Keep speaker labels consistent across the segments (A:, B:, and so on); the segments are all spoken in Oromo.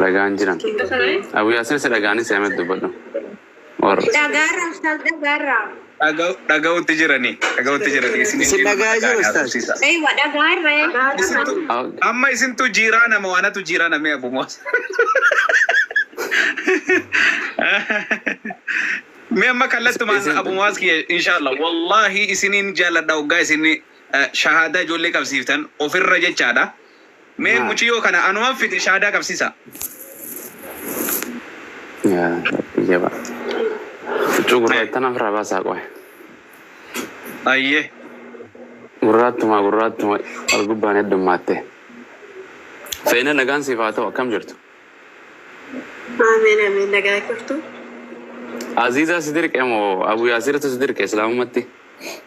A: Dhagaan jiran. Abu Yaasin isa dhagaanii si hamet dubbadhu. Or. Dhagaarraa ustaaz
B: dhagaarraa. Dhaga'utti jirani. Dhaga'utti jirani. Isin
C: dhagaa jiru ustaaz. Eeywa dhagaarra ee.
B: Amma isintu jiiraa nama waanatu jiiraa namee Abu Moos. Mee amma kallattumaan Isin- Abu Moos kiyya inshaallah wallaahi isiniin jaalladha hoggaa isin shahaadaa ijoollee qabsiiftan ofirra jechaadha. Mee Maal? muciyoo kana anuman fide shaadaa qabsisaa.
A: Yaa rabbi jaba. Huccuu gurraacha tana ofirraa baasaa qoy.
B: Ayyee.
A: Gurraattuma gurraattuma wal gubbaan heddummaatte. Seenaa nagaan siif haa ta'u akkam jirtu? Ameen ameen
D: nagaa jirtu.
A: Aziizaa si dirqe moo Abu Yaasirtu si dirqe islaamummatti?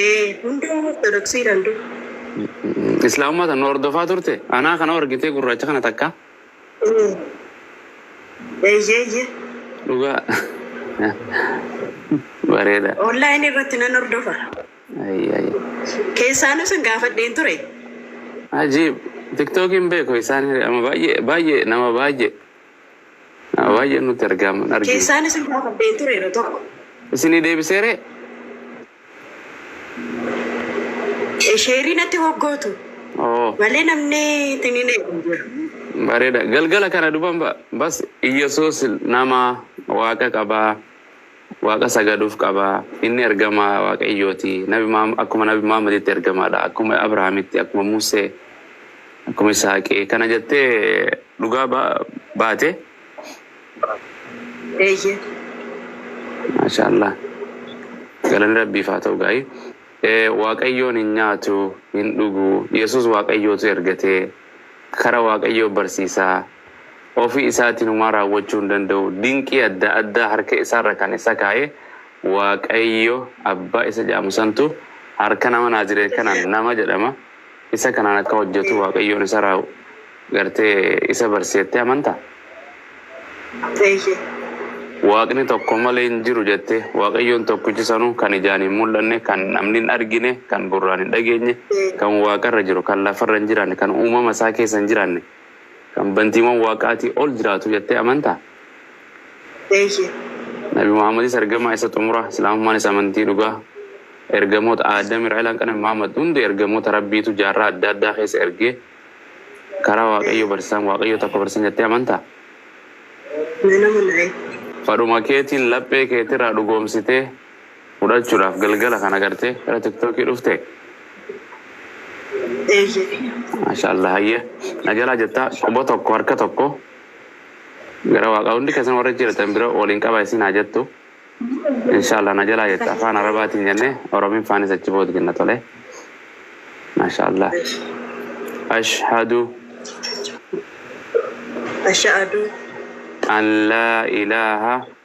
A: Ee,
D: hunduu Ortodoksii danduu.
A: Islaamummaa tan nu hordofaa turte? Anaa kana argitee gurraacha kana takka?
D: Ee. Eeyyee, eeyyee. Dhugaa.
A: Bareeda. Online irratti nan
D: hordofa. Ayyi ayyi. Keessaanuu sin gaafadheen ture. Ajiib.
A: Tiktookiin beeku isaan hiri ama baay'ee baay'ee nama baay'ee. Baay'ee nutti argaaman argine. Keessaan isin gaafadheen
D: ture yeroo tokko. Isinii deebisee
A: ree?
D: Sheerii natti hoggootu Oo, malee namni itti ni neequ jiru. bareeda.
A: Galgala kana duban ba- bas Iyyasuus nama waaqa qabaa. Waaqa sagaduuf qaba. Inni ergamaa Waaqayyooti. Nabi Muhammad akkuma Nabi Muhammaditti ergamaadha. Akkuma Abrahaamitti, akkuma Musee, akkuma Isaaqi. Kana jettee dhugaa ba, baate?
D: Eeyyee.
A: Maashaallah. Galanni Rabbiif haa ta'u gaa'ii. Eh, Waaqayyoon hin nyaatu, hin dhugu. Yesus Waaqayyootu ergatee. Kara Waaqayyoo barsiisaa. Ofii isaatiin homaa raawwachuu hin danda'u. Dinqii adda addaa harka isaa irra kan isa kaa'e Waaqayyo Abbaa isa jedhamu santu harka nama Naazireet kanaan, nama jedhama, isa kanaan akka hojjetu Waaqayyoon isa raaw, gartee, isa barsiise jettee amantaa? Eeyyee. Waaqni tokko malee hin jiru jettee? Waaqayyoon tokkichi sanuu kan ijaan hin mul'anne, kan namni hin argine, kan gurraan hin dhageenye, kan waaqa irra jiru, kan lafa irra hin jiraanne, kan uumama isaa keessa hin jiraanne, Kan bantiiwwan Waaqaatii ol jiraatu jettee amantaa? Eeyyee. Nabi Muhammadis ergamaa isa xumuraa, Islaamummaanis amantii dhugaa ergamoota Aadam irraa ila hanqanabi Muhammad hundi ergamoota Rabbiitu jaarraa adda addaa keessa ergee karaa Waaqayyoo barsiisaan Waaqayyoo tokko barsiisan jettee amantaa? Nan amana. Fadhuma keetiin laphee keetirraa dhugoomsitee fudhachudhaf galgala kana garte gara tiktoki dhufte? Eeyyee. Mashaallah hayye na jala jetta quba tokko harka tokko gara waqa hundi kesan warri achi jiratan bira walin qaba isin ha jettu inshallah na jala jetta afaan arabatin jenne orominfanis achi bood jenna tole mashaallah ashhadu Ashaadu. an la ilaha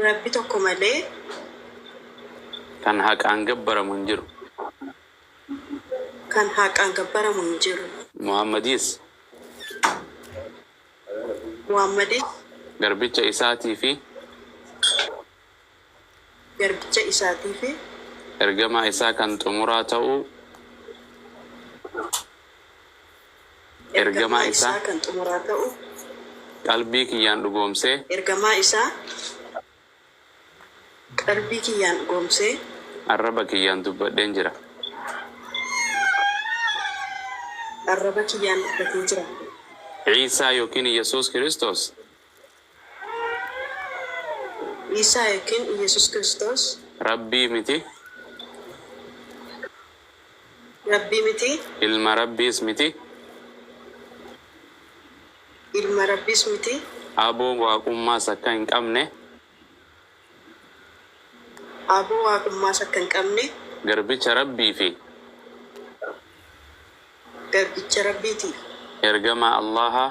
D: Rabbi tokko malee.
A: Kan haqaan gabbaramu hin jiru.
D: Kan haqaan gabbaramu hin jiru. Muhammadis. Muhammadis. Garbicha
A: Isaatii fi.
D: garbicha isaatii fi. ergamaa isaa
A: kan xumuraa ta'uu ergamaa isaa kan xumuraa
D: ta'uu. qalbii
A: kiyyaan dhugoomsee. ergamaa isaa
D: qalbii kiyyaan dhugoomsee. arraba kiyyaan
A: dubbadheen jira.
D: arraba kiyyaan dubbatee jira. Iisaa
A: ykn Yesuus Kiristoos.
D: Iisaa ykn Iyyasuus Kiristoos. Rabbii miti. Rabbii miti. Ilma Rabbiis
A: miti. Ilma
D: Rabbiis miti. Aaboon
A: Waaqummaas akka hin qabne.
D: Aaboon Waaqummaas akka hin qabne. Garbicha Rabbii
A: fi.
D: Garbicha Rabbiiti. Ergamaa
A: Allaahaa.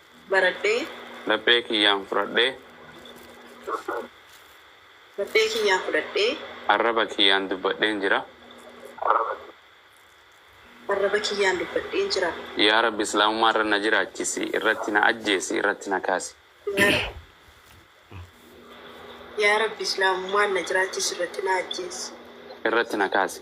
D: baradhee. Laphee
A: kiyyaan fudhadhee.
D: Laphee kiyyaan fudhadhee. Arraba kiyyaan
A: dubbadheen jira.
D: Arraba kiyyaan dubbadheen jira. Yaa Rabbi Islaamummaa
A: irra na jiraachisi, irratti na ajjeesi, irratti na kaasi. Yaa
D: Rabbi Islaamummaan na jiraachisi, irratti na ajjeesi. Irratti na
A: kaasi.